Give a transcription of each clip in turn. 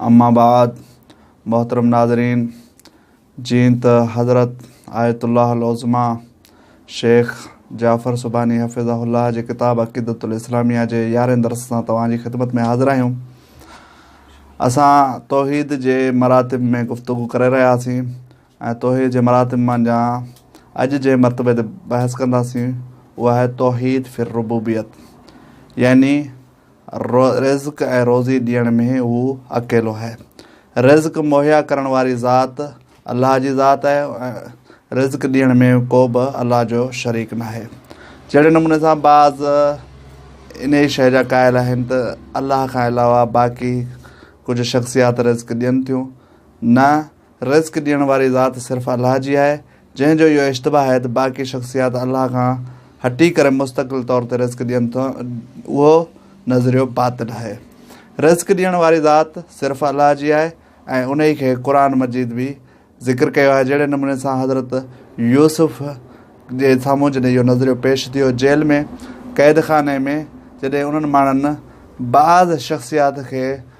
اما بعد محترم ناظرين جيئن ته حضرت آيت الله العظميٰ شيخ جعفر سبحاني حفظه الله جي ڪتاب عقيدت الاسلاميه جي يارهين درس سان توهان جي خدمت ۾ حاضر آهيون اسان توحيد جي مراتب ۾ گفتگو ڪري رهياسين ۽ توحيد جي مراتب مان جا اڄ جي مرتبه تي بحث ڪنداسين اها آهي توحيد فر ربوبيت يعني رزق ۽ روزي ڏيڻ ۾ هو اڪيلو آهي. رزق مهيا ڪرڻ واري ذات الله جي ذات آهي ۽ رزق ڏيڻ ۾ ڪو به الله جو شريڪ ناهي. جهڙي نموني سان بعض انهيء شيء جا قائل آهن ته الله کان علاوه باقي ڪجهه شخصيات رزق ڏين ٿيون، نه! رزق ڏيڻ واري ذات صرف الله جي آهي، جنهن جو اهو اشتباه آهي ته باقي شخصيات الله کان هٽي ڪري مستقل طور تي رزق ڏين ٿيون، اهو نظريو باطل آهي. رزق ڏيڻ واري ذات صرف الله جي آهي ۽ انهي کي قرآن مجيد به ذڪر ڪيو آهي، جهڙي نموني سان حضرت يوسف جي سامهون جڏهن اهو نظريو پيش ٿيو جيل ۾ قيدخاني ۾ جڏهن انهن ماڻهن بعض شخصيات کي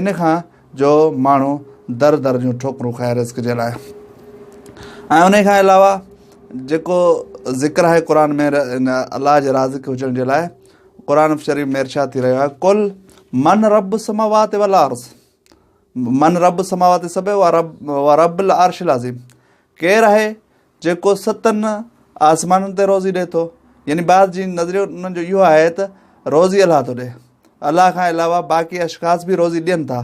ان کان جو ماڻهو در در جون ٺوڪرون کائي رزق جي لاء ۽ انهي کان علاوه جيڪو ذڪر آهي قرآن ۾ الله جي رازق هجڻ جي لاء قرآن شريف ۾ ارشاد ٿي رهيو آهي ڪل من رب سماوات والارض من رب سماوات سب و رب و رب العرش العظيم ڪير آهي جيڪو ستن آسمانن تي روزي ڏي ٿو يعني بعض جي نظريو انهن جو اهو آهي ته روزي الله ٿو ڏي الله کان علاوه باقي اشخاص به روزي ڏين ٿا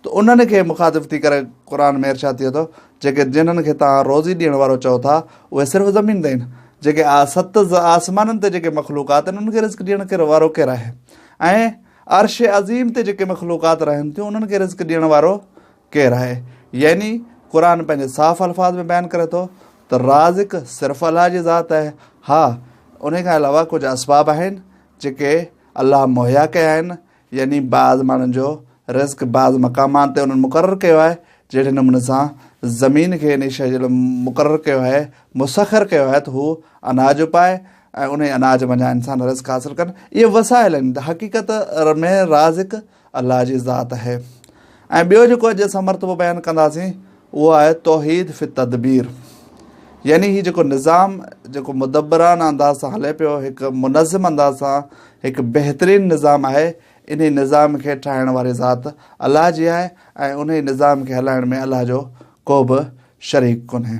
ته انهن کي مخاطب ٿي ڪري قرآن ۾ ارشاد ٿئي ٿو جيڪي جنهن کي توهان روزي ڏيڻ وارو چئو ٿا اهي صرف زمين تي آهن جيڪي آ ست آسمانن تي جيڪي مخلوقات آهن انهن کي رزق ڏيڻ ڪير وارو ڪير آهي عرش عظيم تي جيڪي مخلوقات رهن ٿيون انهن کي رزق ڏيڻ وارو ڪير آهي؟ يعني قرآن پنهنجي صاف الفاظ ۾ بيان ڪري ٿو ته رازق صرف الله جي ذات آهي، ها انهي کان علاوه ڪجهه اسباب آهن جيڪي الله مهيا ڪيا آهن، يعني بعض ماڻهن جو رزق بعض مقامات تي انهن مقرر ڪيو آهي، جهڙي نموني سان زمين کي انهي شيء جي لاء مقرر ڪيو آهي، مسخر ڪيو آهي ته هو اناج اپائي ۽ انهي اناج منجهان انسان رزق حاصل ڪن، اهي وسائل آهن، حقيقت ۾ رازق الله جي ذات آهي ۽ ٻيو جيڪو اڄ اسان مرتبو بيان ڪنداسين اهو آهي توحيد في التدبير يعني هي جيڪو نظام جيڪو مدبرانه انداز سان هلي پيو هڪ منظم انداز سان هڪ بهترين نظام آهي انهي نظام کي ٺاهڻ واري ذات الله جي آهي ۽ انهي نظام کي هلائڻ ۾ الله جو ڪو به شريڪ ڪونهي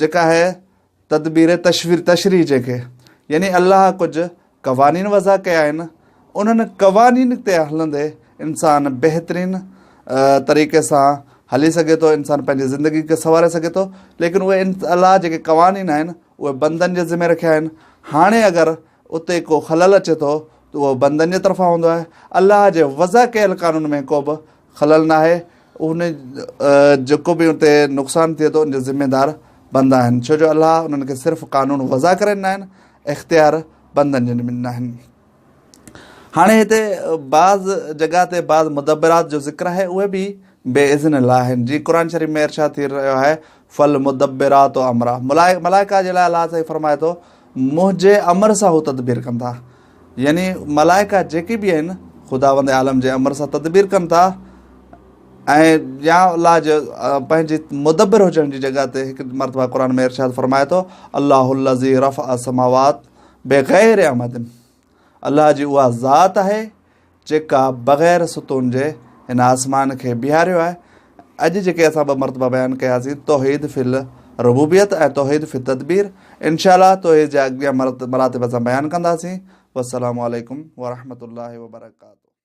جيڪا هي تدبير تشوير تشريح جنهن کي يعني الله ڪجهه قوانين وضع ڪيا آهن انهن قوانين تي هلندي انسان بهترين طريقي سان هلي سگهي ٿو انسان پنهنجي زندگي کي سنواري سگهي ٿو ليڪن اهي الله جيڪي قوانين آهن اهي بندن جي ذمي رکيا آهن هاڻي اگر اتي کو خلل اچي ٿو ته اهو بندن جي طرفان هوندو آهي الله جي وضع ڪيل قانون ۾ ڪو به خلل ناهي اهن جيڪو به اتي نقصان ٿئي ٿو ان جا ذميدار بندا آهن ڇو جو الله انهن کي صرف قانون وضع ڪري ڏنا آهن اختيار بندن جي ڏنا آهن هاڻي هتي بعض جڳهه تي بعض مدبرات جو ذڪر آهي اهي به بي اذن الله آهن جي قرآن شريف ۾ ارشاد ٿي رهيو آهي فل مدبرات امرا ملائڪا جي لاء الله سائين فرمائي ٿو منهنجي امر سان هو تدبير ڪندا يعني ملائڪه جيڪي به آهن خداوند عالم جي امر سان تدبير ڪن ٿا ۽ يا الله جو پنهنجي مدبر هجڻ جي جڳهه تي هڪ مرتبه قرآن ۾ ارشاد فرمائي ٿو الله الزي رف اسماوات بغير احمد الله جي اها ذات آهي جيڪا بغير ستون جي هن آسمان کي بيهاريو آهي. اڄ جيڪي اسان ٻه مرتبا بيان ڪياسين توحيد في الربوبيت ۽ توحيد في التدبير انشاء الله توحيد جا اڳيان مراتب اسان بيان ڪنداسين والسلام عليڪم ورحمة الله وبرڪاته.